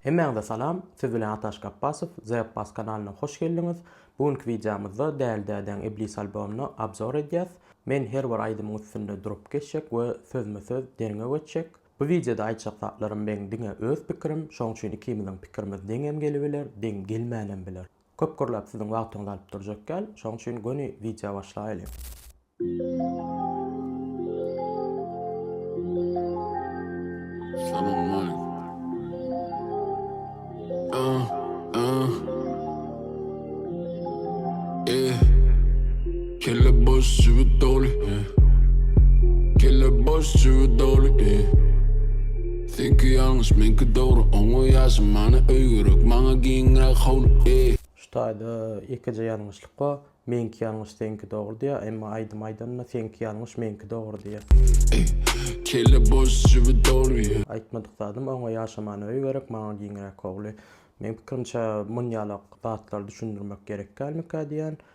Hemmäňize salam, siz bilen Ataş Gapbasow, The Abbas kanalyna hoş geldiňiz. Bu günki wideomyzda Däli dädäň Iblis albomyna obzor edýäs. Men her bir aýdymyň üstünde durup geçjek we sözme-söz derňew etjek. Bu wideoda aýtjak zatlarym meň diňe öz pikirim, şoň üçin ikimiziň pikirimiz deňem gelibiler, deň gelmänem biler. Köp gürläp siziň wagtyňyzy alyp durjak däl, şoň üçin göni wideo başlaýaly. Kelle boş jübüt doly Kelle boş jübüt doly Seňki ýalňyş meňki dogry Oňa ýaşy many öý gerek Maňa giňräk howly Şu taýda ýekeje ýalňyşlyk bar Meňki ýalňyş seňki dogry diýýär emma aýdym aýdanda seňki ýalňyş meňki dogry diýýär. Kelle boş jübüt doly. Aýtmadyk zadym oňa ýaşy many öý gerek Maňa giňräk howly Meň pikirimçe munýalak zatlary düşündirmek gerek dälmikä diýýän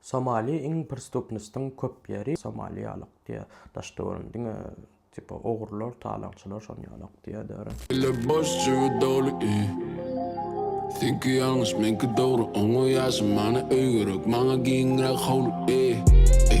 Somali iň pristupnostyn köp ýeri somaliýalyk diýä daş döwrüm diňe tipa ogrular talaňçylar şony ýalak diýä dörä. Eller boş jübi doly i Seňki ýalňyş meňki dogry Oňa ýaşy many öý gerek Maňa giňräk howly i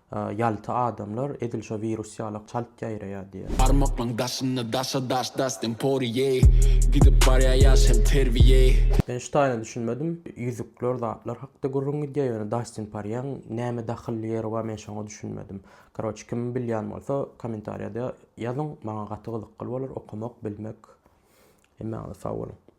Ýalta adamlar edil şo wirus ýalak çalt ýaýraýar diýýär. Barmaklaň daşynda daşa daş Dastin Porýe Gidip barýa ýaş hem terbiýe. Men şu taýyna düşünmedim. Ýüzükler zatlar hakda gürrüň gidýä ýöne Dastin Parýäň näme dahylly ýeri bar men şoňa düşünmedim. Karoç kim bilýän bolsa komentarýada ýazyň maňa gaty gyzykly bolar okamak bilmek. Hemmäňize sag boluň.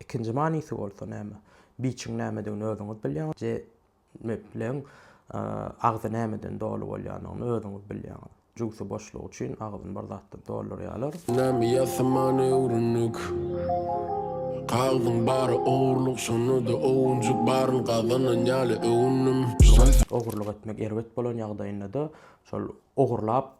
Ikinji manysy bolsa näme? Biçiň nämedigini özüňiz bilýäňiz. Jemepleň agzy nämeden doly bolýanyny özüňiz bilýäňiz. Jübsi boşlugy üçin agzyny bir zatdan doldurýarlar. Näme ýasaman öwrendik. Kagzyň bary ogurlyk şonda-da owunjyk baryny gazanan ýaly öwündim. Ogurlyk etmek erbet bolan ýagdaýynda-da şol ogurlap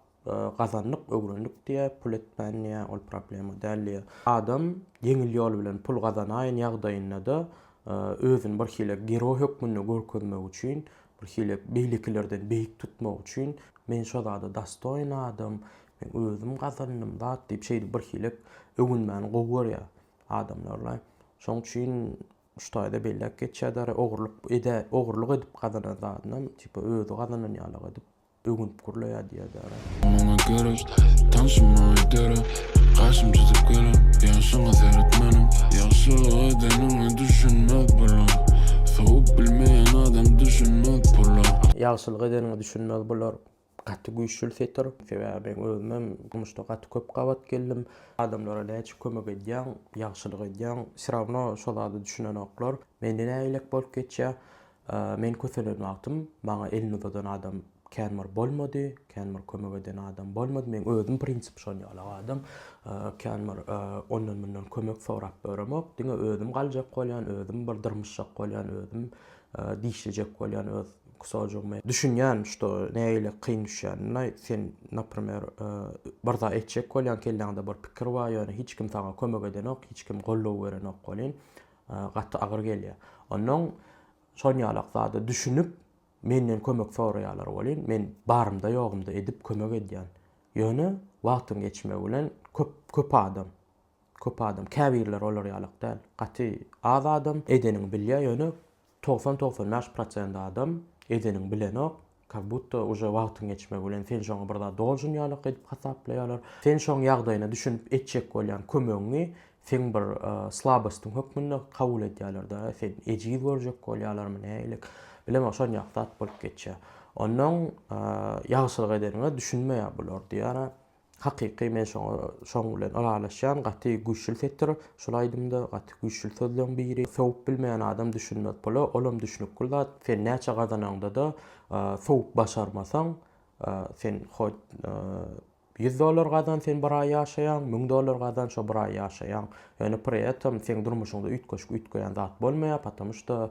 Gazandyk, öwrendik diýýä, pul etmän diýýä, ol problema däl diýýä. Adam ýeňil ýol bilen pul gazanaýyn ýagdaýynda-da, özüni birhili geroý hökmünde görkezmek üçin, birhili beýlekilerden beýik tutmak üçin, men şo zada dostoýin adam, men özüm gazandym zat diýip, şeýdip birhili öwünmäni gowy görýär adamlar-la. Şoň üçin şu taýda belläp geçýär-de, ogurlyk eden, ogurlyk edip gazanan zadynam, tipa, özi gazanan ýalyk edip, öwünip gurlaýar diýýär Dara. Maňa gerek, tanşym maňa gerek, Kaşym çyzyp gerek, ýagşyňa seret meniň. Ýagşylyk edeniňe düşünmez bular, Sowup bilmeýän adam düşünmez pula. Ýagşylyk edeniňe düşünmez bular, Gaty güýçli setir. Sebäbi men özümem durmuşda gaty köp gabat geldim. Adamlara näçe kömek edýäň, ýagşylyk edýäň, wsýrawno şo zada düşünenoklar. Mende nägilek bolup geçýär. Men köselen wagtym maňa elini uzadan adam kän bir bolmady, kän bir kömek eden adam bolmady. Meň özüm prinsip şon ýalak adam. Kän bir ondan mundan kömek sorap ýöremok. Diňe özüm galjak bolýan, özüm bir dyrmyşjak bolýan, özüm dişlejek bolýan öz kusojygymy. Düşünýän şto nägile kyn düşýänini. Sen naprimer bir zat etjek bolýaň, kelläňde bir pikir bar, ýöne hiç kim saňa kömek edenok, hiç kim goldaw berenok welin, gaty agyr gelýär. Onnoň şon ýalak zada düşünip, menden kömek soraýarlar welin, men barymda-ýogumda edip kömek edýän. Ýöne wagtyň geçmegi bilen köp, köp adam, köp adam, käbirleri olar ýalak däl, gaty az adam edeniňi bilýär, ýöne Togsan togsan bäş prosent adam edeniň bilenok, kak butta uje wagtyň geçmegi bilen sen şoňa bir zat doljun ýalak edip hasaplaýalar. Sen şoň ýagdaýyna düşünip etjek bolýan kömegiňi seň bir slabostyň hökmünde kabul edýäler-de, seni ejiz görjek bolýalarmy näilik, bilemok şon ýaly zat bolup geçýär. Onnoň ýagşylyk edeniňe düşünmeýär bular diýýär-ä, Hakyky men şoňa şoň bilen ylalaşýan gaty güýçül setir şul aýdymda gaty güýçül sözleň biri sowup bilmeýän adam düşünmez pula olam düşnükgil zat sen näçe gazanaňdada sowup başarmasaň sen hot ýüz dollar gazan sen bir aý ýaşaýaň müň dollar gazan şo bir aý ýaşaýaň ýöne pri etom seň durmuşyňda üýtgeşik üýtgeýän zat bolmaýar patamuşda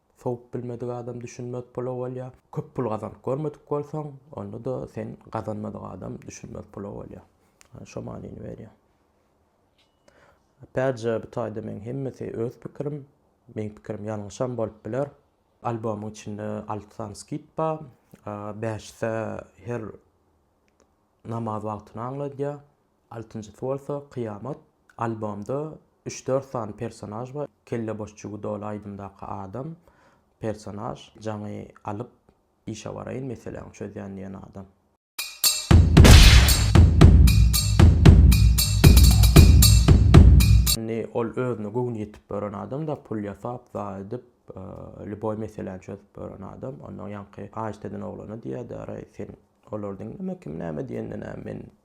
Sowup bilmedik adam düşünmez pula bolýar. Köp pul gazanyp görmedik bolsaň, onda-da sen gazanmadyk adam düşünmez pula bolýar. Şo manyny berýär. Apätje bu taýda meň hemmesi öz pikirim. Meň pikirim ýalňyşam bolup biler. Albomyň içinde alty sany skit bar. Bäşisi her namaz wagtyny aňladýar. Altynjysy bolsa Kyýamat. Albomda üç-dört sany personaž bar. Kelle boş jübi doly aýdymdaky adam, personaž, jaňy alyp işe baraýyn, meseläňi çözýän diýen adam. Indi ol özüne göwni ýetip ýören adam-da, pul ýasap, zaý edip, lýuboý meseläni çözüp ýören adam. Onnoň ýaňky Aýşdeden oglana diýýär, Dara, sen olary diňleme, kim näme diýende näme, men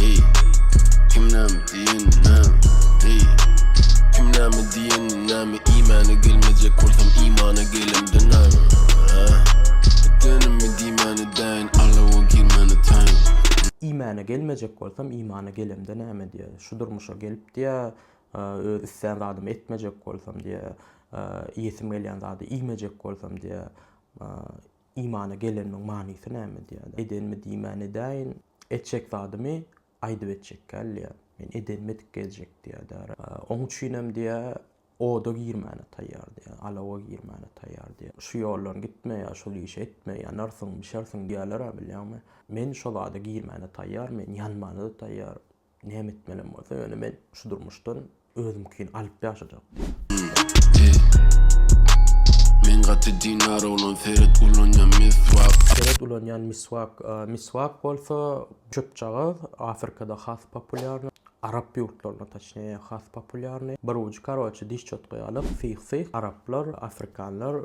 Eý, kim näme diýenini näme, eý, kim näme diýenini näme Iýmäne gelmejek bolsam imana gelemde näme, ah, Edenimi diýmän edäýin, alawa girmän etaýin. Iýmäne gelmejek bolsam imana gelemde näme diýä, Şu durmuşa gelip diýä, öz islän zadymy etmejek bolsam diýä, Iýesim gelýän zady iýmejek bolsam diýä, Imana gelenimiň manysy näme diýä, Edenimi diýmän edäýin. Etjek zadymy aýdyp etjekkäl diýýär. Men edenimi edip geljek diýýär diýýär. Oň üçinem diýýär, oda girmäne taýýar diýýär, alawa girmäne taýýar diýýär. Şu ýoldan gitme ýa şol işi etme, ýanarsyň, bişersiň diýýärler-ä bilýäňmi? Men şo zada girmäne taýýar, men ýanmana-da taýýar. Näme etmelem bolsa ýöne men şu durmuşdan özümkini alyp ýaşajak diýip. Men gaty dinara ulan seret ulanýan miswak. Seret ulanýan miswak. Miswak bolsa çöpjagaz, Afrikada has populýarny, arap ýurtlarynda taçnije has populýarny. Bir ujy karoçe diş çotgaýa alyp syh-syh, araplar, afrikanlar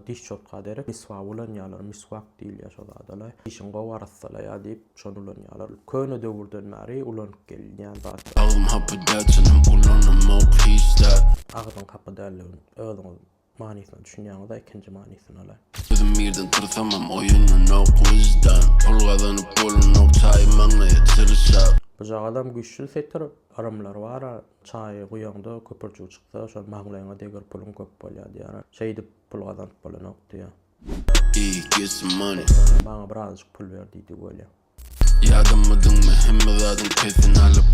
diş çotga derek miswak ulanýarlar. Miswak. Diýilýär şo zada-laý. Işiň gowy arassalaýar diýip, şony ulanýarlar. Köne döwürden bäri ulanyp gelinýän zat. Agzyň hapy däl, çynym ulanamok hiç zat. Agzyň hapy dälliginiň özüňiz manysyna düşünýäňiz-a ikinji manysyna-laý. Özüm birden tyrsamam oýunynok wyždan. Pul gazanyp bolunok çaýy maňlaýa çyrşap. Bujagazam güýçli setir, yrymlary bar-a, Çaýy guýaňda köpürjik çyksa, şony maňlaýyňa degir puluň köp bolýar diýýär-ä. Şeýdip pul gazanyp bolanok diýýär. Maňa birazajyk pul ber diýdi Wele. Ýadamydyňmy hemme zadyň keýfini alyp.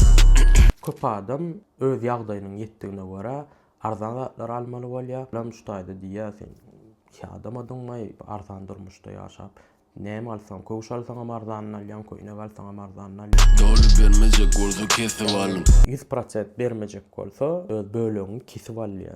Köp adam öz ýagdaýynyň ýetdigine görä arzan zatlary almaly bolýar. Lam şu taýda diýýär sen ýadamadyňmaý arzan durmuşda ýaşap näme alsaňam köwüş alsaňam arzanyny alýaň köýnek alsaňam arzanyny alýaň. Doly bermejek bolsa kesip alyň. Ýüz prosent bermejek bolsa öz bölegiňi kesip al diýýär.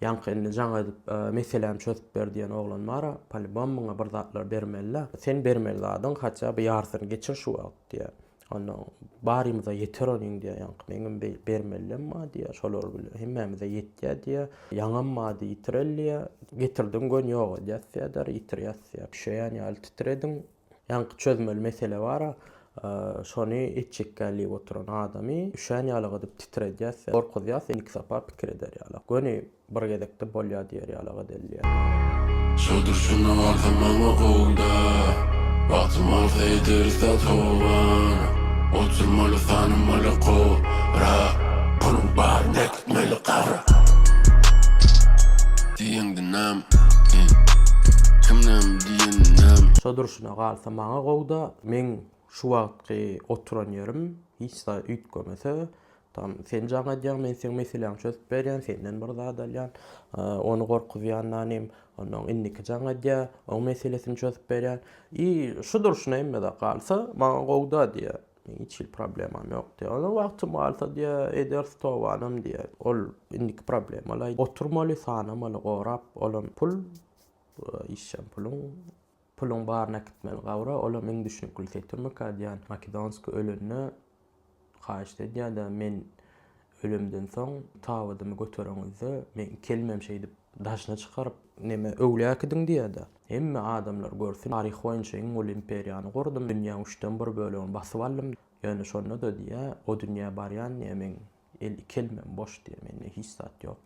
Ýaňky indi jaň edip meselämi çözüp ber diýen oglan bara, polibom muňa bir zatlar bermeli-dä. Sen bermeli zadyň haçja bir ýarsyny geçir şu wagt diýýär. Onda barymyza ýeter onuň diýýär ýaňky. Meňem bermelidem bar diýýär. Şolar bile hemmämize ýetýär diýýär. Ýaňam bardy ýitireli diýýär. Getirdiň göni ýok edýäs diýýär, ýitirýäs diýýär. Pişeýän ýaly titrediň. Ýaňky çözmeli mesele bar-a, şony etjekkä diýip oturan adamy üşän ýalygadyp titredýäs, gorkuzýas, ilki sapar pikir eder ýalak, göni bir gezekde bolýa diýer ýalagad elýär. Şo durşuna barsa maňa gowy-da, bagtym alsa ederis-dä toban, oturmaly-tanamaly kobra, puluň bar, net! Maýly garry. Diýendi näm i. Kim näm diýeni näm. Şo durşuna galsa maňa gowda meň şu wagtky oturan ýerim hiç zat üýtgemese tam sen jaň edýäň men seň meseläňi çözüp berýän senden bir zat alýan ony gorkuzýandanym onnoň indiki jaň edýä oň meselesini çözüp berýän i şu durşuna hemme zat galsa maňa gowda diýä Meň hiç hili problemam ýok diýýär. Onuň wagty bolsa diýýär, ederis tobanam diýýär. Ol indiki problemalaý oturmaly, sanamaly, gorap, olam pul, işjeň puluň, puluň baryny äkitmeli gabra, olam iň düşnükli setirmika diýýän, Makedonskiý ölende haýyşt edýär-de, men Ölümden soň tabydymy götereňizde, meň kelmem şeýdip daşyna çykaryp, neme öwlüýär äkidiň diýerdi. Hemme adamlar görsün, taryh boýunça iň uly imperiýany gurdum, dünýäň üçden bir bölegini basyp aldym, ýöne şonda-da diýýär, o dünýä barýan diýýär, meň el kelmem boş diýýär, mende hiç zat ýok.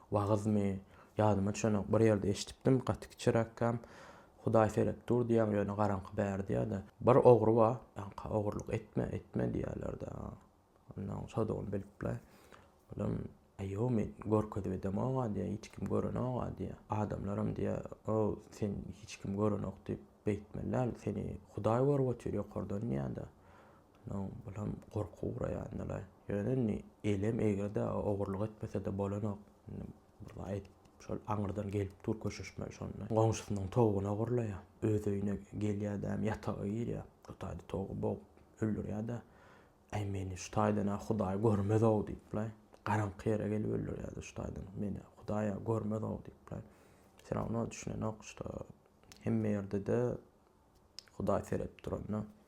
Wagyzmy, ýadyma düşenok, bir ýerde eşidipdim, gaty kiçiräkkäm, Hudaý seredip dur diýýän, ýöne garaňky bärde-de. Bir ogry bar, ýaňky ogurlyk etme, etme diýýärler-dä. Onnoň çodugyny bilip-le, olam, Aýýo, men görkezip edemog-a diýýär, hiç kim görenok-a diýýär. Adamlaram diýýär, O, seni hiç kim görenok diýip beýtmeli däl, seni Hudaý görüp otyr ýokardan diýýär-de. No bulam gorky guraýandylar. Ýöne indi elem eger-de ogurlyk etmese-de bolanok. Indi bir aýdyp şol aňyrdan gelip dur köşeşmeli şonda. Goňşusynyň towugyny ogurlaýar. Öz öýüne gelýär dämi ýataga girýär. Bu taýda towugy bogup öldürýär-de. Äý meni şu taýdan-a hudaý görmez-ow diýipler. Garaňky ýere gelip öldürýär-de şu taýdan meni hudaý-a görmez-ow diýipler. Wse rawno düşünenok, şda hemme ýerde-de hudaý seredip duran-da.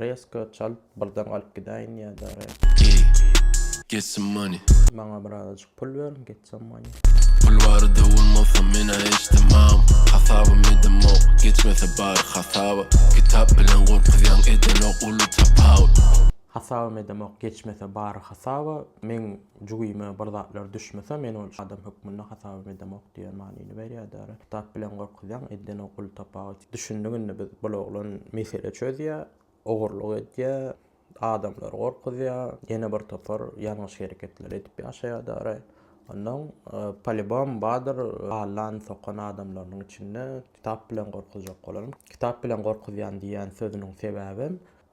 Resko çalt birden galyp gidäýin ýada re. Ey get some money. Maňa birazajyk pul ber get some money. Pul barada bolmasa mena eşdemam hasabym edemok geçmese bar hasaba kitap bilen gorkuzýaň edenok uly tapawut. Hasabym edemok geçmese bar hasaba meň Jübime bir zatlar düşmese, men ol adam hökmünde hasabam edemok diýen manyny berýärdi. Kitap bilen gorkuzýaň, edden okuly tapagy üçin. Düşündik indi biz, bul oglan mesele çözýär, ogurlyk edýär, adamlary gorkuzýar, ýene bir topar ýalňyş hereketler edip ýaşaýar dary. Ondan, polibom, bardyr allan, sokan adamlarynyň içinde kitap bilen gorkuzjak bolan. Kitap bilen gorkuzýan diýýän sözüniň sebäbem,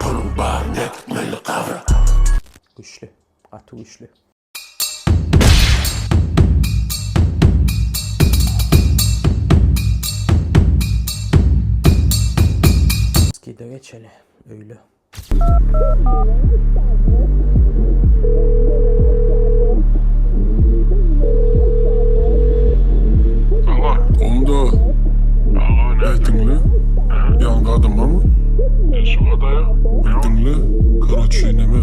Puluň baryny äkitmeli gabra. Güçli. Gaty güçli. Skida geçeli. Öyle. Onda. Ýetiňli. Ýan gadymamy? Bir diňle karoçe neme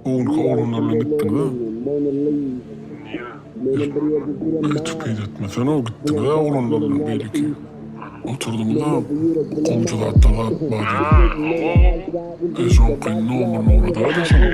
owulka oglanlar bilen gitdiňiza öýtüp peýdetmesene gitdiňiza oglanlar bilen beýleki oturdymyza gowja zatlar zat bar diýip soňky nomer nogradaýda şonuň.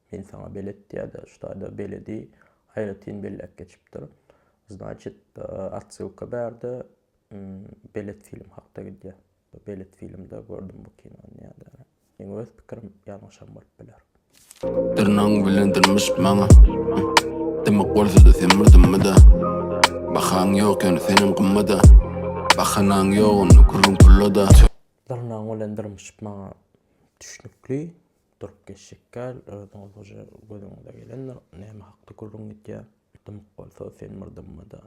Men saňa belet ýa-da ştada beledi aýratyn belläp geçipdir. Znaçit, otsylka bärde belet film hakda gidýär. Belet filmde gördüm bu kinony ýa-da. Meň öz pikirim ýalňyşam bolup biler. Dyrnagyň bilen dyrmyş maňa. Dymyk bolsada sen bir dymma-da. Bahaň ýok ýöne senem gymma-da. Bahanaň ýok onda gürrüň pulla-da. Dyrnagyň bilen dyrmyşyp maňa düşnükli. Durup geçjek däl, özüň ozguje gözüňize gelendir, näme hakda gürrüň gidýär? Dymyk bolsa, sen bir dymma-da.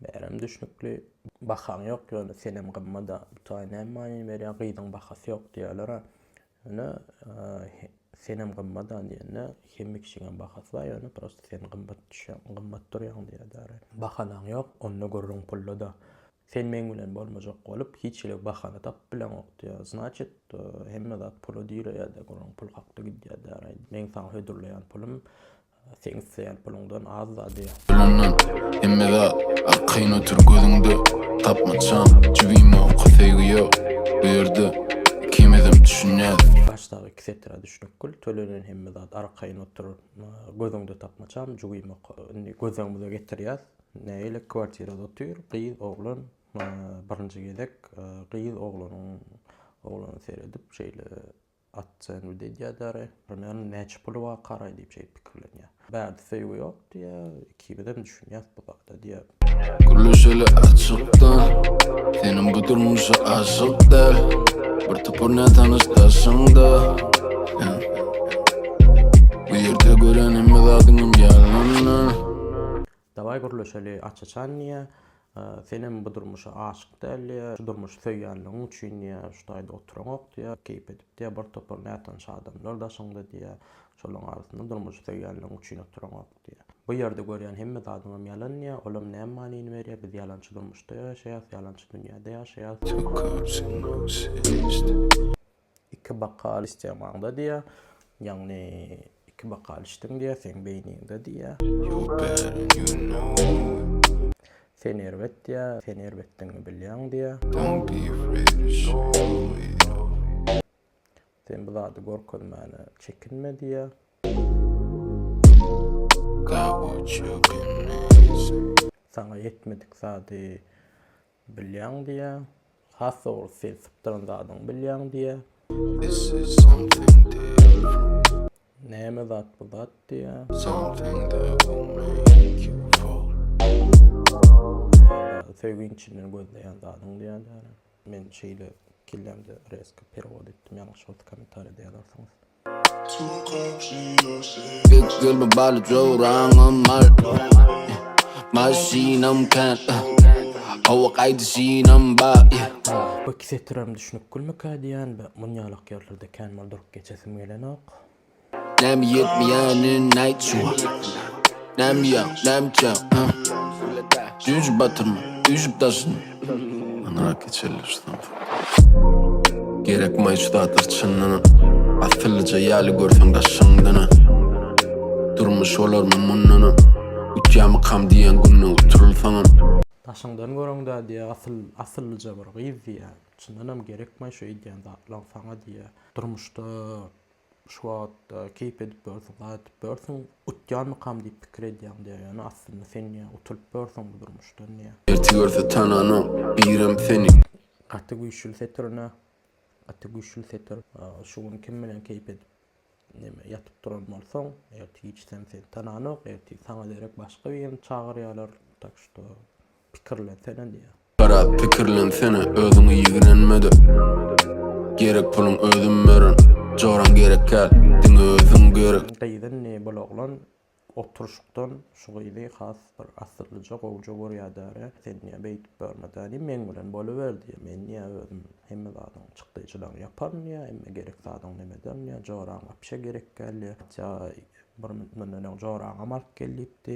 Bärem düşnükli. Bahaň ýok, ýöne senem gymma-da. Bu taý näme manyny berýär, gyzyň bahasy ýok diýýärler-ä. Ýöne senem gymma-da diýende, hemme kişiňem bahasy bar, ýöne prosta sen gymmat düşýäň, gymmat durýaň diýýär däri. Bahanaň ýok, onda gürrüň pulda-da. Sen meň bilen bolmajak bolup hiç hili bahana tapyp bileňok diýýär. Znaçit, hemme zat pula direýär-de, gürrüň pul hakda gidýär däraý. Meň saňa hödürleýän pulum seň isleýän puluňdan az-da diýýär. Bilemden, hemme zat arkaýyn otur gözüňde, tapmaçam, jibimok, söýgi ýok bu ýerde, ikimizem düşünýäs. Başdaky iki setir-ä düşnükgil, tölenen hemme zat arkaýyn otur gözüňde, tapmaçam, jibimok, indi gözleňimize getirýäs. Nägile kwartirada otyr, gyz oglan birinji gezek gyz oglanyň oglana seredip şeýle ocenwid edýär däri. Näme näçe puly bar karaý diýip şeýdip pikirlenýär. Bärde söýgi ýok diýýär, ikimizem düşünýäs bu zada diýýär. Gürleşeli açykdan, seniň bu durmuşa aşyk däl, bir topar nätanyş daşyňda. Bu ýerde gören hemme zadyňam ýalandan. Dawaý gürleşeli aç-açan diýýä. Senem bu durmuşa aşyk däl diýýä. Şu durmuşy söýýänligiň üçin diýýä, şu taýda oturaňok diýýä. Keýp edip diýýä, bir topar nätanyş adamlar daşyňda diýýä. Şolaryň arasynda durmuşy söýýänligiň üçin oturaňok diýýä. Bu ýerde görýän hemme zadyňam ýalan diýýä. Olam näme manyny berýär? Biz ýalançy durmuşda ýaşaýarys, ýalançy dünýäde ýaşaýarys. Iki bokal içseň maňda diýýär. Ýagny iki bokal içdiň diýýär, seň beýniňde diýýär. Sen erbet diýýär, sen erbetdigiňi bilýäň diýýär. Sen bu zady görkezmäne çekinme diýýär. Saňa ýetmedik zady Bilýäň diýýä. Has dogrusy sen sypdyran zadyňy bilýäň diýýä. Näme zat bu zat diýýä. Söýgi içinden gözleýän zadyň diýýä däne. Men şeýle kellämde resko perewod etdim, ýalňyş bolsa kommentariýada ýazarsyňyz. Gök ýol bu baly joraňam mal Maşynam kän Howa gaýdyşynam bar Bu iki setirem düşünip gülmekä diýýän be muny ýalak ýerlerde kän mal durup geçesim gelenok. Näme ýetmeýänin aýt şuňa Näme ýok näme çak Düýjüp batyrma üýşüp daşyny. Ana keçeli şu samsyk. Gerek maýç zatlar çyndan Asyllyja ýaly görseň daşyňdan Durmuş olarmy mundan Utýamykam diýen günde utulsaňam. Daşyňdan göreňdä diýýä asyl asyllyja bir gyz diýýä çyndanam gerekmaý şu edýän zatlaň saňa diýýä durmuşda Şu wagtda keýp edip börsiň, gaýdyp börsiň, utýanmykam diýip pikir edýäň diýýär. Ýöne aslynda sen ýa utulyp börsiň bu durmuşdan diýýär. Ertir görse tananok birem seni. Gaty güýçli setir ine. Gaty güýçli setir. Şu gün kim bilen keýp edip neme ýatyp duran bolsaň, ertir giç hem seni tananok, ertir saňa derek başga birini çagyrýarlar. Tak şto Pikirlensene diýýär. Biraz pikirlensene özüňi ýigrenmede Gerek puluň özüm beren Joraň gerek kal diňe özüň gerek. Gyz indi bul oglan oturyşykdan şu gyzy has bir asyllyja gowja görýädärä sen diýýär beýdip görmedä diýip meň bilen boluber diýýär men diýýär özüm hemme zadyň çykdyjylaryny ýaparyn diýýär hemme gerek zadyň nem ederin diýýär joraň wapşe gerek däl diýýär hatja bir münt mundan öň joraňam alyp gel diýipdi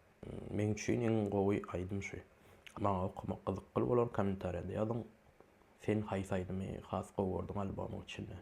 Meň üçin iň gowy aýdym şu. Maňa okamak gyzykly bolar kommentariýada ýazyň sen haýsy aýdymy has gowy gördüň albomyň içinden.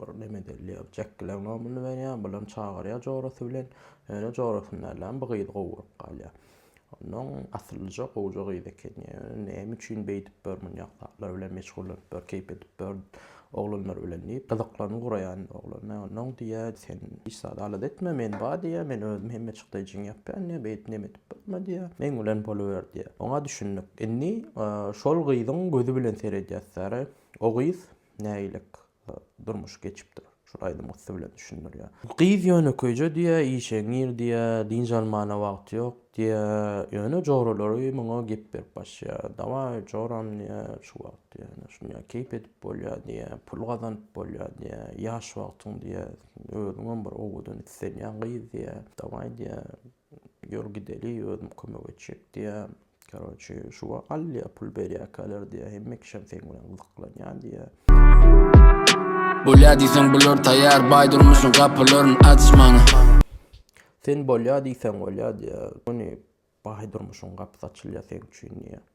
Bir Lemedelliä Jekkileň nomyny berýär, bulam çagyrýar jorasy bilen. Ýöne jorasyny dälem, bu gyzy gowy görüp galýar. Onnoň asyllyja gowja gyz eken. Ýöne näme üçin beýdip bör, munýak zatlar bilen meşgullanyp bör, keýp edip bör oglanlar bilen diýip, gyzyklanma guraýan oglana. Onnoň diýýär, sen hiç zat alada etme, men bar diýýär, men özüm hemme çykdaý jyň ýapýan diýýär, beýdip neme edip bolma diýýär, meň bilen boluber diýýär. Oňa düşündik. Indi şol gyzyň gözi bilen seredýäs, Sary, o gyz nägilik durmuş geçipdir. Şul aýdym gussy bilen düşündirýä. Gyz ýönekeýje diýä, işeň gir diýä, dynç almana wagty ýok diýä. Ýöne joralary muňa gep berip başýa. Dawaý joram diýä, şu wagt diýä, ine şunýa keýp edip bolýa diýä, pul gazanyp bolýa diýä, ýaş wagtyň diýä, özüňem bir owadan islenýän gyz diýä, dawaý diýä, Ýol gideli özüm kömek etjek diýä. Karoçe şu wa Alya pul berýäkäler diýä. Hemme kişem seň bilen gyzyklanýa diýä. Bolýa diýseň bular taýýar baý durmuşyň gapylaryn aç maňa. Sen bolýa diýseň bolýa diýä. Göni baý durmuşyň gapysy açylýa seň üçin diýä.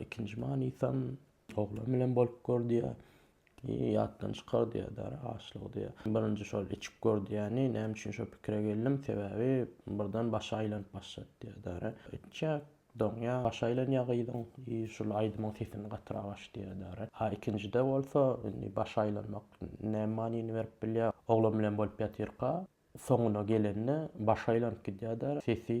Ikinji manysam oglan bilen bolup gör diýýär. Ýatdan çykar diýýär açlygy diýýär. Birinji şol içip gör diýýäni, näme üçin şo pikire geldim, sebäbi birden başy aýlanyp başlady diýýär. Etjek, doňýar, başy aýlanýar gyzyň, şul aýdymyň sesini gatyrak aç diýýär. A ikinjide bolsa, indi başy aýlanmak näme manyny berip bilýär. Oglan bilen bolup ýatyrka, soňuna gelende başy aýlanyp gidýär, sesi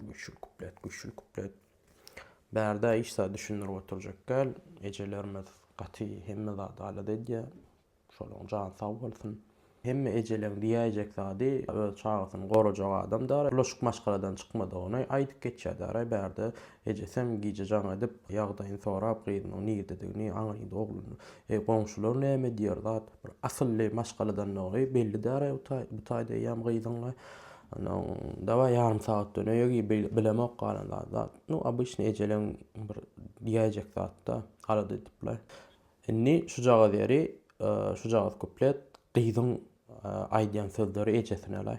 Güçli kuplet, güçli kuplet. Bärde hiç zat düşündirip oturjak däl. Ejelerimiz gaty hemme zat alada edýär. Şolaryň jany sag bolsun. Hemme ejeleň diýäýjek zady öz çagasyny gorajak adamdar. Bulaşyk maşgaladan çykmadygyny aýdyp geçýärdaray bärde. Ejesem gije jaň edip, ýagdaýyny sorap, gyzynyň nirdedigini, aňrydy ogluny. Eý, goňşular näme diýer zat? Bir asylly maşgaladandygy belli däl-ä bu taý, bu taýda eýýäm gyzyň-a. Onsoň, dabaý, ýarym sagat döneýe giý, bilemok galan zady. Nu, obyçny ejeleň bir diýäýjek zat-da, alada edip-le. Indi şujagaz ýeri, şujagaz kuplet gyzyň aýdýan sözleri ejesine-le.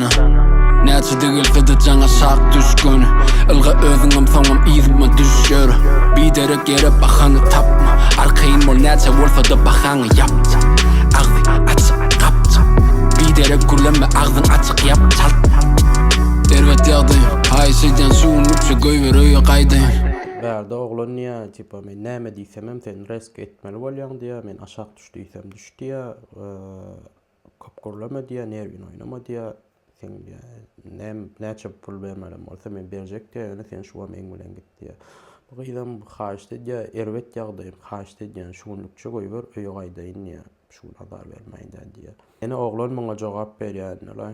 Näçe degil gyzy jaňa şak düşgün Ylga özüňem soňam yzyma düşer Biderek ýere bahana tapma Arkaýyn bol näçe bolsada bahaňy ýap Agzy açyk gapjyk Biderek gürleme agzyň açyk ýap çalt Erbet ýagdaý Aý şeýdýän şu gün üçe goýber öýe gaýdaýyn Bärde oglan diýýä tipa men näme diýsemem sen resk etmeli bolýaň diýýä men aşak düş diýsem düş diýýä Köp gürleme diýýär, nerwini oýnama diýýär. Sen diýýär, näçe pul bermelem bolsa men berjek diýýär, ýöne sen şu wagam eň bilen git diýýär. Bu gyzam haýyşt edýär, erbet ýagdaýym, haýyşt edýän, şu günlükçe goýber, öýe gaýdaýyn diýýär. Şu gün azar bermäýin-dä diýýär. Ene oglan muňa jogap berýär, ine-le,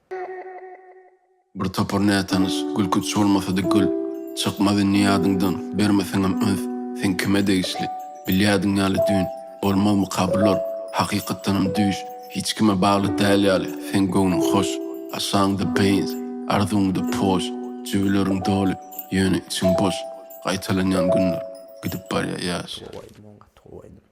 Bir topar nätanyş gülkünç bolmasady gül Çykmaz indi ýadyňdan, bermeseňem üns Sen kime degişli, bilýädiň ýaly düýn Bolmazmyka bular, hakykatdanam düýş Hiç kime bagly däl ýaly, seň göwnüň hoş Aşagyňda beýns, arzuwyňda poş Jübüleriň doly, ýöne içiň boş Gaýtalanýan günler, gidip barýar ýaş. Gaty gowy aýdym, gaty gowy aýdym.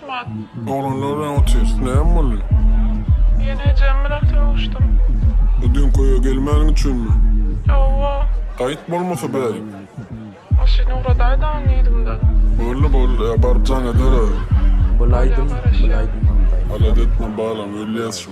Oglanlar bilen otyrs. Näme boldy? Ýene ejem bilen sögüşdim. Bu düňk öýe gelmäniň üçinmi? Hawa. Gaýt bolmasa bärik. Maşyny ugradaýdagyň diýdimde. Boldy, boldy. Ýa baryp jaň eder aýry. Bulaýdym, bulaýdym. Halat etme balam, ölýäs şo.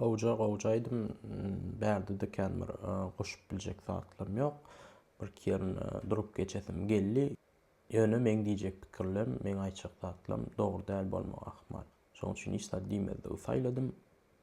Gowja gowja aýdym bärde diken bir goşup biljek zatlarym ýok. Bir iki ýerini durup geçesim geldi. Ýöne meň diýjek pikirlem, meň aýtjak zatlarym dogry däl bolmak ahmal. Şonuň üçin hiç zat diýmezligi saýladym.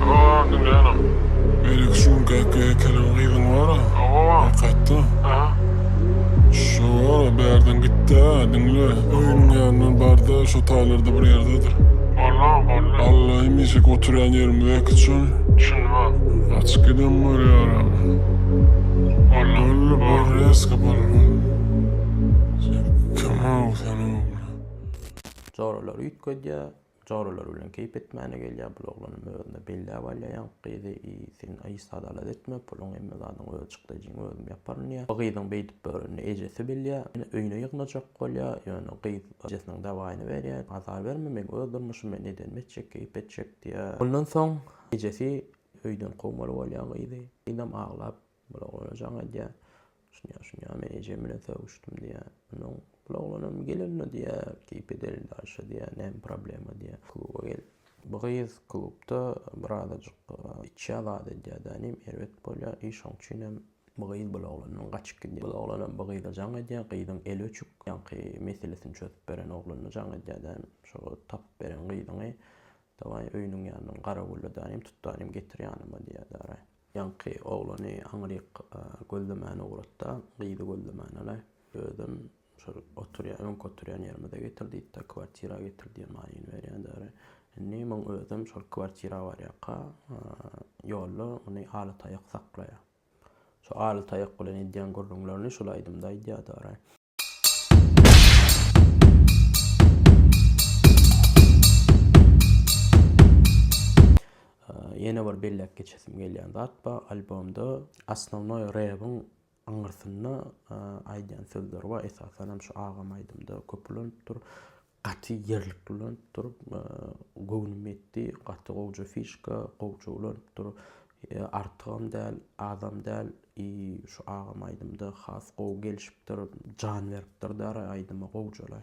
Howaa dünýänem. Melek şu käki ekeniň gyzyň wara hakykatda. Şo wara bärden gitdä diňle. Öýüniň ýanyndan barda şo taýlarda bir ýerdedir. Bollar bolly. Alla hemişeki oturýan ýerim öýki çyn. Çynba. Gaçyp gidem bar ýaragym. Bolly bor reska bolly bolly. Sen kim aw sen ogly. Joralar üýtgedýär. Joralar bilen keýp etmäne gelýär bul oglanam özüne belläp alýar ýaňky gyzy i sen i sadalad etme puluň hemme zadyň öz çykdajyň özüm ýaparyn diýýär bu gyzyň beýdip börenini ejesi bilýär ýöne öýüne ýygnajak bolýar ýöne gyz ejesiniň dawaýyny berýär azar berme meň öz durmuşym men edenim etjek keýp etjek diýýär ondan soň ejesi öýden kowmaly bolýar gyzy gyzam aglap Bul oglana jaň edýär. Şuny-ýa, şuny-ýa men ejem bilen sögüşdim diýýär. Onsoň bul oglanam gel-ol-la diýýär, keýp edeli daşa diýýär, näme problema diýýär, kluba gel. Bu gyz klubda birazajyk içýär zat edýär dänim, erbet bolýar i şoň üçinem bu gyz bul oglandan gaçyp gidýär. Bul oglanam bu gyza jaň edýär, gyzyň eli öçük, ýaňky meselesini çözüp beren oglanyna jaň edýär dänim, şo tapyp beren gyzyňy dawaý öýüniň ýanyndan garawulla dänim, tut dänim getir ýanyma diýýär däraý. Ýaňky oglany aňryk gözlemäne ugrat-da, gyzy gözlemäne-le, özem şol oturýan, öňki oturýan ýerimize getir diýdi-de, kwartira getir diýen maýyny berýäderi. Indi muň özem şol kwartira barýaka ýolda muny aly taýak saklaýar. Şo aly taýak bilen edýän gürrüňlerini şol aýdymda aýdýadary. Ýene bir belläp geçesim gelýän zat bar, albomda Asnownoý Rebiň aňyrsynda aýdýan sözleri bar, esasanam şu agam aýdymda köp ulanypdyr. Gaty ýerlikli ulanypdyr. Göwnüm ýetdi. Gaty gowja fişka, gowja ulanypdyr. Artygam däl, azam däl. I şu agam aýdymda has gowy gelişipdir. Jan beripdir däri aýdyma gowjalaý.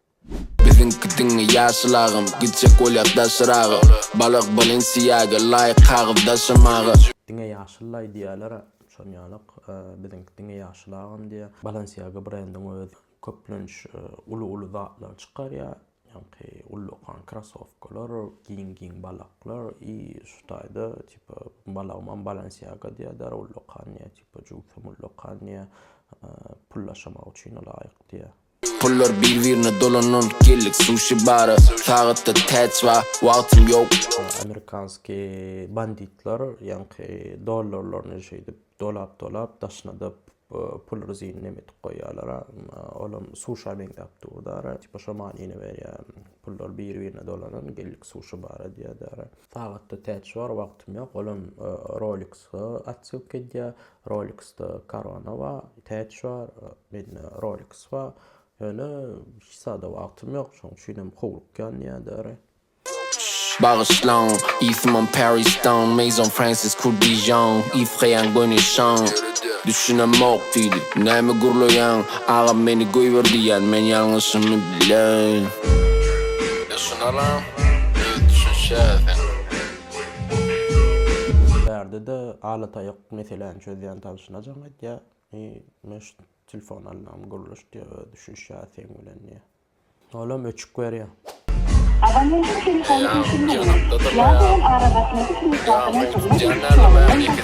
Biziňki diňe ýaşyl agam, gitjek bolýas daşyraga, Balag Balenciaga laýyk kagyz daşamaga. Diňe ýaşyl laý diýýälera şon ýalak biziňki diňe ýaşyl agam diýýä. Balenciaga brendiň özi köplenç uly uly zatlary çykarýa ýaňky uly dokan krasowkalar giň giň balaklar i şu taýda tipa balagymam balenciaga diýýä dara uly dokan diýýä tipa jugusam uly dokan diýýä pul daşamak üçin laýyk diýýä. Pullar bir birine dolanan geldik suşi bara sagatda täç ba wagtym ýok. Amerikanski banditlar ýaňky dollarlaryny şeýdip dolap dolap daşyna da pul rzyny neme edip goýýalara olam suşa meňzäp durdara tipa şo manyny berýä pullar bir birine dolanan geldik suşi bara diýýädara sagatda täç bar wagtym ýok olam roliks atsilka edýä Rolex-da Corona bar, Täç bar, mende Rolex bar. Ýöne hiç zada wagtym ýok, şonuň üçinem howlukýan näderi. Bagyşlaň, ismim Perry Stone, Maison Francis Kur Dijon, Yves-Réan Goynichon. Düşünemok diýdi, näme gürleýäň, agam meni goýber diýýän, men ýalňyşymy bilen. Düşünerin, öz düşünşä sen. Bärde-de ala taýak Meseläni çözýän tanşyna jaň edýär. I, men şu telefony alynam gurluş diýýär, özi düşünişýär seň bilen diýýär. Olam öçük berýär. Abonentiň telefony öçürilmeýär. Ýa bolan aragatnaşyk hüjjatynyň hyzmat ediş ýolundan başga.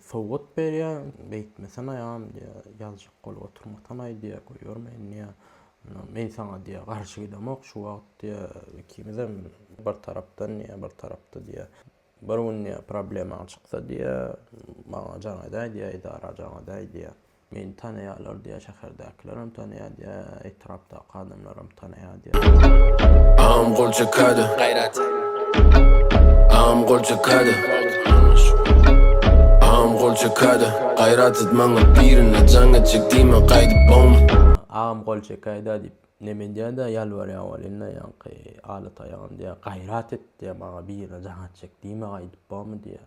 Sowgat berýä, Beýtmesene ýam diýä, Ýazjak bolup oturmasanaý diýä, Goýarmy indi ýa, Men saňa diýä, garşy gidemok, Şu wagt diýä, ikimizem bir tarapdan diýä, bir tarapda diýä, Bir gün diýä, problemaň çyksa diýä, Maňa jaň edäý diýä, edara jaň edäý diýä. Meni tanaýarlar diýýär, şäherdäkilerem tanaýar diýýär, etrapdaky adamlaram tanaýar diýýär. Agam gol çekadi. Gaýrat. Agam gol çekadi. Agam gol çekadi. Gaýrat et maňa birine jaň etjek diýme gaýdyp bowmy. Agam gol çekäýdä diýip neme edýädä ýalbarýar welin-le ýaňky aly taýagam diýýär, gaýrat et diýýär maňa birine jaň etjek diýme gaýdyp bowmy diýýär.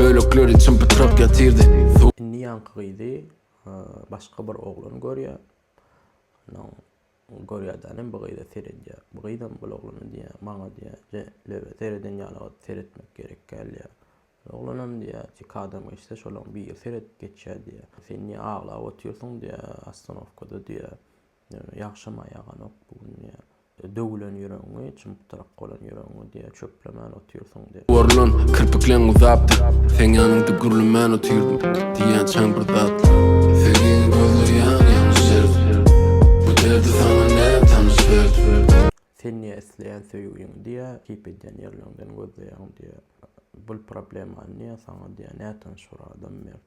Bölekleri çympytrak ýatyrdy. Indi ýaňky gyzy başga bir oglan görýär. Ondan görýärdenem bu gyza seredýär. Bu gyzam bul oglana diýýär, maňa diýýär, je, löbe sereden ýaly seretmek gerek däl diýýär. Bul oglanam diýýär, iki adam geçse, şolaryň biri seredip geçýär diýýär. Sen niýe aglap otyrsyň diýýär, ostanowkada diýýär. Ýagşam-a ýaganok bu gün diýýä. Döwülen ýüregiňi, çym-pytrak bolan ýüregiňi diýýä, çöplemän otyrsyň diýýä. Orlan, kirpikleň uzapdy. Seň ýanyňda gürlemän otyrdym. Diýýän çaň bir datly. Segiň gözleýäň ýalňyş derdi. Bu derdi saňa näme tanyş berdi. Sen niýe isleýän söýgiňi diýýä, keýp edýän ýerleriňden gözleýäň diýýä. Bul problemany niýe saňa diýýä, nätanyş bir adam berdi.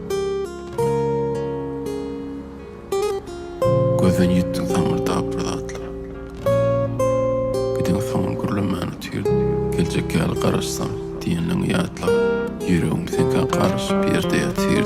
Gözden ýitdiň saňňyrdap bir zatlar. Gidiň soňam gürlemäni tir, Geljek ýaly garaşsaň, diýenleňi ýatla. Ýüregiň seňkä garyşyp ýerde ýatyr.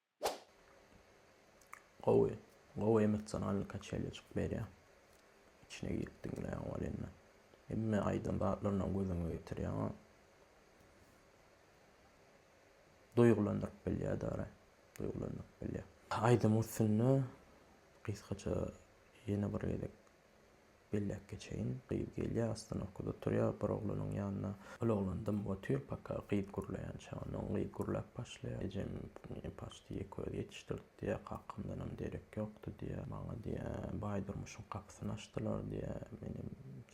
Gowy. Gowy emosionalny kaçelýa çykyp berýä. İçine girip diňleýän bol indi. Hemme aýdan zatlaryndan gözüňe getirýäň. Duýgulandyryp bilýär dara. Duýgulandyryp bilýär. Aýdym üstünde gysgaça ýene bir gezek Belläp geçeýin, gyz gelýär, astyn okuda turýar, bir oglanyň ýanyna. Ol oglan dym otyr, paka gyz gürleýän çagan. Oň gyz gürläp başlaýar. Ejem paçdy ýeke özi ýetişdirdi diýýär. Kakamdanam derek ýokdy diýýär. Maňa diýýär, Baýdurmuşyň gapysyny açdylar diýýär. Menem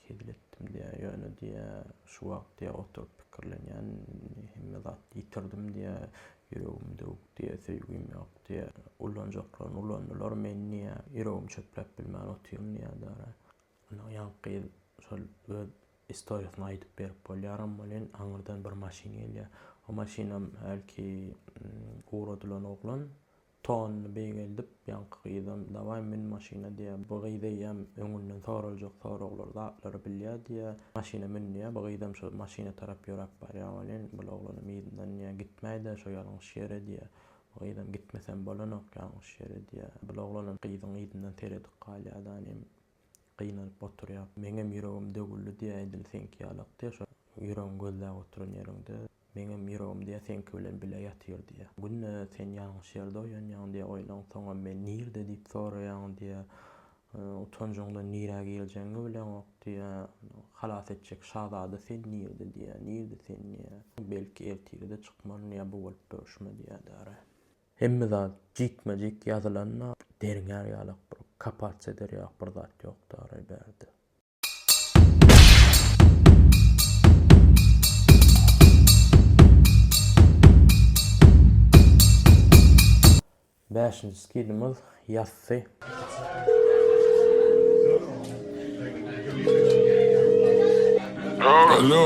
hezil etdim diýýär. Ýöne diýýär, şu wagt diýýär, oturyp pikirlenýän, hemme zat ýitirdim diýýär. Ýüregim döwük diýýär, söýgim ýok. Diýýär, Ullanjaklaryny ulandylar, men niýe ýüregim çöpläp bilmän otyryn diýýär Dara. Ynha, ýaňky gyz şol öz istoriýasyny aýdyp berip bolýaram welin, aňyrdan bir maşyn gelýär. O maşynam hälki ugradylan oglan tonyny beýgeldip, ýaňky gyzam dawaý mün maşyna diýýär. Bu gyz eýýäm öňünden soraljak soraglar, zatlary bilýär diýýär. Maşyna mün diýýär. Bu gyzam şol maşyna tarap ýöräp barýar welin, bu oglanam yzyndan diýýär, gitmäý-dä şo ýalňyş ýere diýýär. Gyzam gitmesem bolanok ýalňyş ýere diýýä. Bul oglanam gyzyň yzyndan seredip galýa da inem gynanyp oturýa. Meňem ýüregim döwüldi diýýä edil seňki ýalak diýýä şo ýüregiň gözläp oturan ýeriňde. Meňem ýüregim diýýä seňki bilen bile ýatyr diýýä. Günde sen ýalňyş ýerde oýanýaň diýýä oýlan soňam men nirde diýip soraýaň diýýä. Utanjyňdan nirä geljegiňi bileňok diýýä. Halas etjek şazada sen nirde diýýä, nirde sen diýýä. Belki ertire-de çykmaryn ýa bu bolup dörüşme diýýä dara. Hemme zat jikme-jik ýazylanda derňär ýalak bir kapaç eder ýalak bir zat ýok dara bärde. Bäşinji skidimiz ýassy. Alo.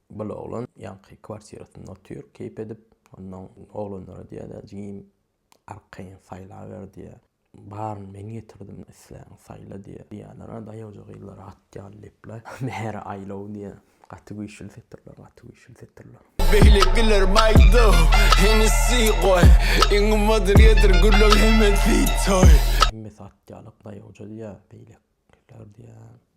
Bir oglan ýaňky kwartirasynda otyr, keýp edip. Onnoň oglanlara diýýär-de, Jigim, arkaýyn saýlaber diýýär. Baryny men getirdim, isläňi saýla diýýär. Diýýärler-ä, daýawja gyzlar at ýaly lepler. Bäri aýlaw diýýär. Gaty güýçli setirler, gaty güýçli setirler. Beýle güler baýdaw, Hennessy goý. Iň gymmadyny getir, gürleň hemmesi toý. Hemmesi at ýaly daýawja diýýär, beýlekiler diýýär.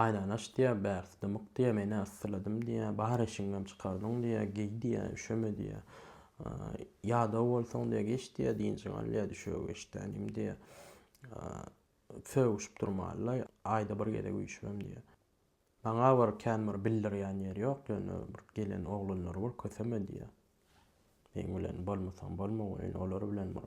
Aýnany aç diýýär, bärsi dymyk diýýär, men-ä yssyladym diýýär, bar eşigiňem çykardyň diýýär, geý diýýär, üşeme diýýär. Ýadaw bolsaň diýýär, geç diýýär, dynjyňy al diýýär, düşege geç tänim diýýär. Sögüşip durmaly-la, aýda bir gezek üýşübem diýýär. Maňa bir kän bir bildirýän ýeri ýok, ýöne bir gelen oglanlary bir köseme diýýär. Meň bilen bolmasaň bolma goýun, olar bilen bir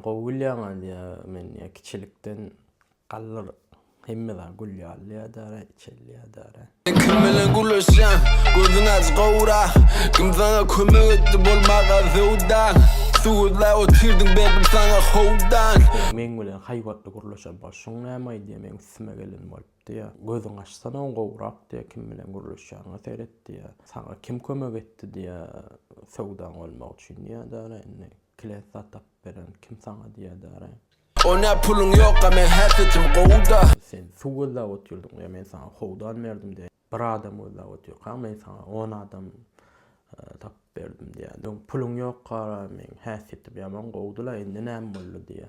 Gowy gülýäň Aliýa men ýa kiçilikden galdyr hemme zat gül ýaly ýadara içeli ýadara. Sen kim bilen gürleşýäň gözüň aç gowra kim saňa kömek etdi bolmaga söwdaň suw gözläp otyrdyň berdim saňa howdan. Meň bilen haýbatly gürleşen bol şuň näme aýdýa meň üstüme gelen bolup diýä gözüň açsana gowrak diýä kim bilen gürleşýäňe seret diýä saňa kim kömek etdi diýä söwdaň bolmak üçin ýadara indi. Klet satyp beren kim saňa diýädäre. O ne puluň ýokga meň her setim gowda. Sen suw gözläp otyrdyň ya men saňa howdan berdim diýä bir adam gözläp otyrkaň men saňa on adam tapyp berdim diýä. Puluň ýokara meň häsiýetim ýaman gowdula indi näme boldy diýä.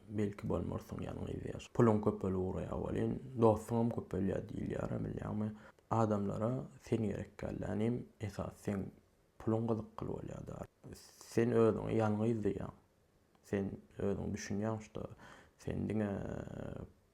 Belki bolmarsyň ýalňyz ýaş. Puluň köpelip ugraýar welin, dostuňam köpelýär diýilýärä bilýäňmi? Adamlara sen gerek dälda inim, esas seň puluň gyzykly bolýada. Sen özüňe ýalňyz diýýäň. Sen özüň düşünýäň şda sen diňe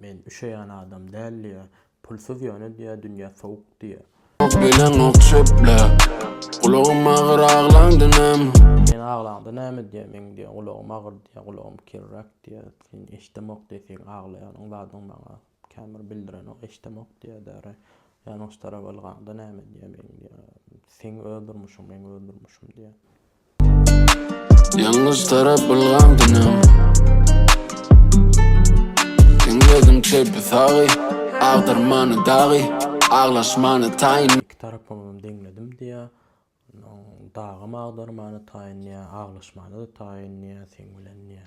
Men üşeýän adam däl diýýär. Pulsuz ýöne diýýär, dünýä sowuk diýýär. Ýok bilenok çöpläp, gulagym agyr aglaňda näme. Sen aglaňda näme diýýär, meň diýýär, gulagym agyr diýýär, gulagym kirräk diýýär. Sen eşdemok diýýär, seň aglaýanyň zadyň maňa kän bir bildirenok, eşdemok diýýär däri. Ýanyşdyrap ylgaňda näme diýýär, meň diýýär, seň öz durmuşyň, meň öz durmuşym diýýär. Ýalňyz tarap bulgan dünýäm Diňledim çepi sagy Agdyrmany dagy Aglaşmany taýyn Iki tarapyňam diňledim diýä Dagam agdyrmany taýyn diýä Aglaşmany-da taýyn diýä Seň bilen diýä.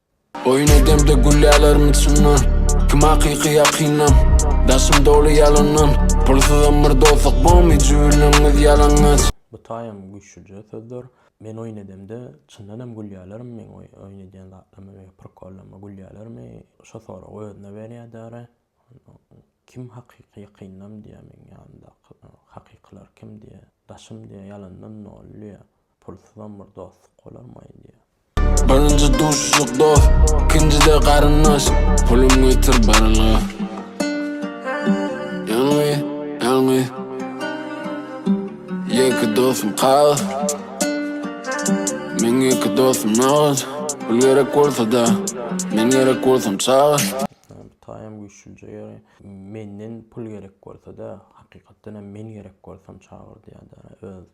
Oýun edemde gülýärler içimden Kim hakyky ýakynam Daşym doly ýalandan Pulsuzam bir dostluk bolmy Jübülleniňiz ýalaňaç. Bu taýam güýçlüje sözler. Men oýun edemde çyndanam gülýärlermi meň oýun edýän zatlama we prikollarma gülýärlermi şo soragy özüne berýär däri kim hakyky ýakynam diýýär meň ýanymdaky hakykylar kim diýýär daşym diýýär ýalandan doly diýýär Pulsyzam bir dostluk bolarmy aýdýa. Birinji duşuşyk dost, ikinjide garyndaş. Pulum getir barylga. Ýalňy, ýalňy. Ýeke dostum kagyz. Meň ýeke dostum nagyş. Pul gerek bolsa-da, men gerek bolsam çagyş. Bu taýam güýçlüje ýöne. Menden pul gerek bolsa-da, hakykatdanam men gerek bolsam çagyr diýýär-de öz.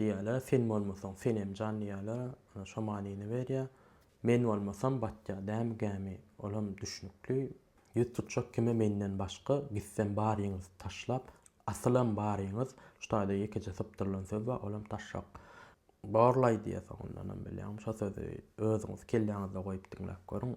Diýýärler, Sen bolmasaň, senem jan diýýärler, ana, şo manyny berýär. Men bolmasam, batýar dämi gämi, ol hem düşnükli. Ýüz tutjak kime menden başga, gitsem baryňyzy taşlap, asylam baryňyz, şu taýda ýekeje sypdyrylan söz bar, ol hem taşşak. Borlaý diýýär soňundanam, bilýäňmi, şo sözi özüňiz kelläňizde goýup diňläp görüň.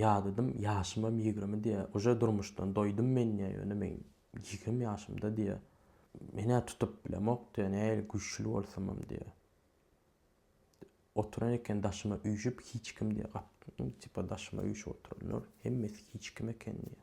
Ýadadym ýaşymam ýigrimi diýä uje durmuşdan doýdum men diýä ýöne men ýigrim ýaşymda diýä menä tutup bilemok diýä nähili güýçli bolsamam diýä oturan eken daşyma üýşüp hiç kim diýä gapyny tipa daşyma üýşüp oturanlar hemmesi hiç kim eken diýä.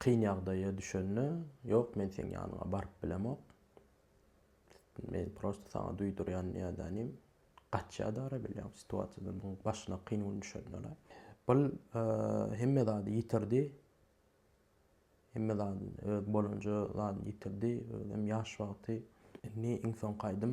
Kyn ýagdaýa düşende, ýok men seň ýanyňa baryp bilemok. Men prosta saňa duýdurýan nädänim, gaçýa-da ara bilýän situasiýadan oň başyna kyn gün düşende-le. Ol hemme zady ýitirdi. Hemme zady öz bolanja zadyny ýitirdi. Özem ýaş wagty. Indi iň soňky aýdym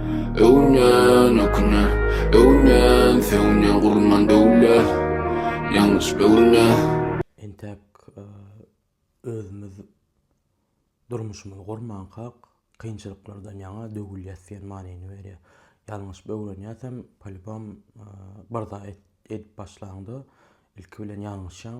Öwünýän, ökünýän, öwünýän, sögünýän gurundan döwlet, ýalňyş böwünýän. Entäk özümiz durmuşymyzy gurmankak, kynçylyklardan ýaňa döwülýäs diýen manyny berýär. Ýalňyş böwrenýäsem, polibom bir zat edip başlaňda ilki bilen ýalňyşýaň,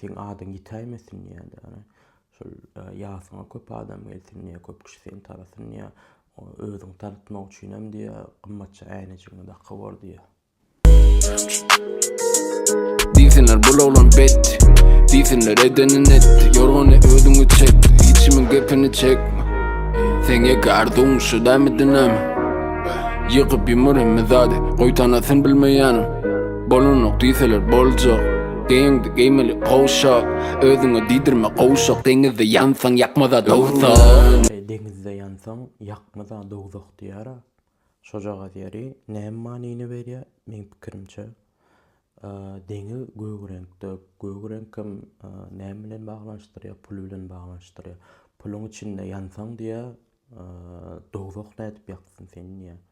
Seň adyň ýitäýmesin diýýärdi. Ýagny şol ýasyňa köp adam gelsin diýýär, köp kişi seni tarasyn diýýär. Özüňi tanatmak üçinem diýýär, gymmatja äýnejigiňi dakyp bor diýýär. Diýsinler bul oglan betdi. Diýsinler edenin etdi. Ýorgany özüňi çek, hiçkimiň gepini çekme. Seň ýeke arzuwyň şu dämi dynamy? Ýykyp ýumur hemme zady, goý tanasyn bilmeýänim. Bolanok diýseler boljak. Geýiňdi geýmeli gowşak, özüňe diýdirme gowşak, deňizde ýansaň ýakmaz-a dowzah. Eý, deňizde ýansaň ýakmaz-a dowzah diýýär-ä. Şojagaz ýeri näme manyny berýär? Meň pikirimçe, deňiz gök reňkde, gök reňk hem näme bilen baglanyşdyrýar? Pul bilen baglanyşdyrýar. Puluň içinde ýansaň diýýär, dowzah nädip ýaksyn seni diýýär.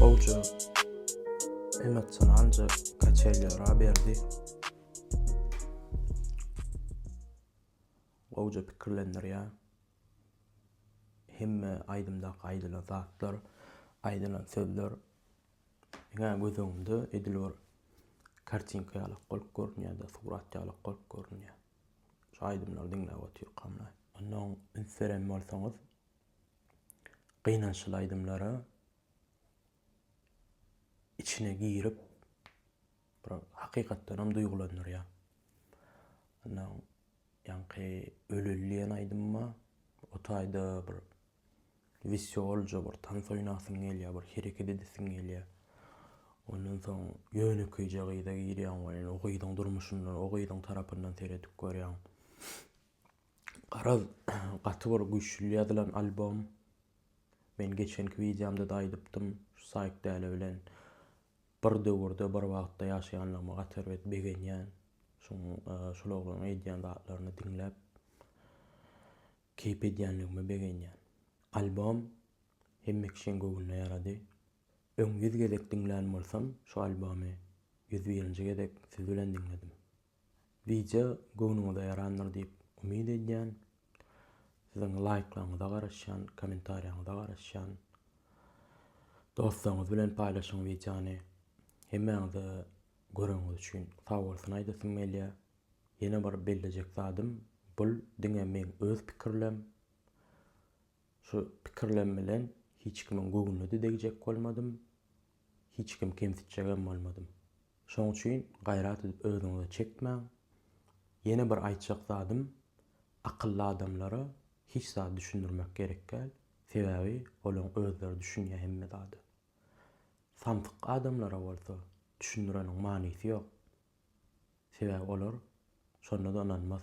Gowja emotsionalca kaçelýara berdi. Gowja pikirlendirýär. Hemme aýdymdaky aýdylan zatlar, aýdylan sözler ýa göz öňünde edil bir kartinka ýaly bolup görünýär-de, surat ýaly bolup görünýär. Şu aýdymlary diňläp otyrkamda. Ondan üns beren bolsaňyz, gynançly aýdymlara içine girip bir hakykatdanam duýgulandyrýar. Ondan ýaňky Öleli diýen aýdymyma o taýda bir wisiolja bir tans oýnasyň gelýär, bir hereket edesiň gelýär. Ondan soň ýönekeýje gyza girýäň we o gyzyň durmuşyndan, o gyzyň tarapyndan seredip görýäň. Garaz, gaty bir güýçli ýazylan albom. Men geçenki wideomda-da aýdypdym, şu Saýkdäle bilen bir döwürde, bir wagtda ýaşaýanlygyma gaty erbet begenýän. Şuň, şul oglanyň edýän zatlaryny diňläp, keýp edýänligime begenýän. Albom hemme kişiň göwnüne ýarady. Öň ýüz gezek diňlän bolsam, şu albomy ýüz birinji gezek siz bilen diňledim. Wideo göwnüňize ýarandyr diýip umyt edýän. Siziň laýklaryňyza garaşýan, kommentariýaňyza garaşýan. Dostlaryňyz bilen paýlaşyň wideony. Hemmäňize göreniňiz üçin sag bolsun aýdasym gelýär. Ýene bir bellejek zadym, bul diňe meň öz pikirlem. Şu pikirlem bilen hiç kimiň göwnüne-de degjek bolmadym, hiç kimi kemsitjegem bolmadym. Şoň üçin gaýrat edip özüňize çekmäň. Ýene bir aýtjak zadym, akylly adamlara hiç zady düşündirmek gerekgäl, sebäbi olaň özleri düşünýä hemme zada. Samsyk adamlara bolsa düşündireniň manysy ýok, sebäbi olar şonda-da ynanmaz.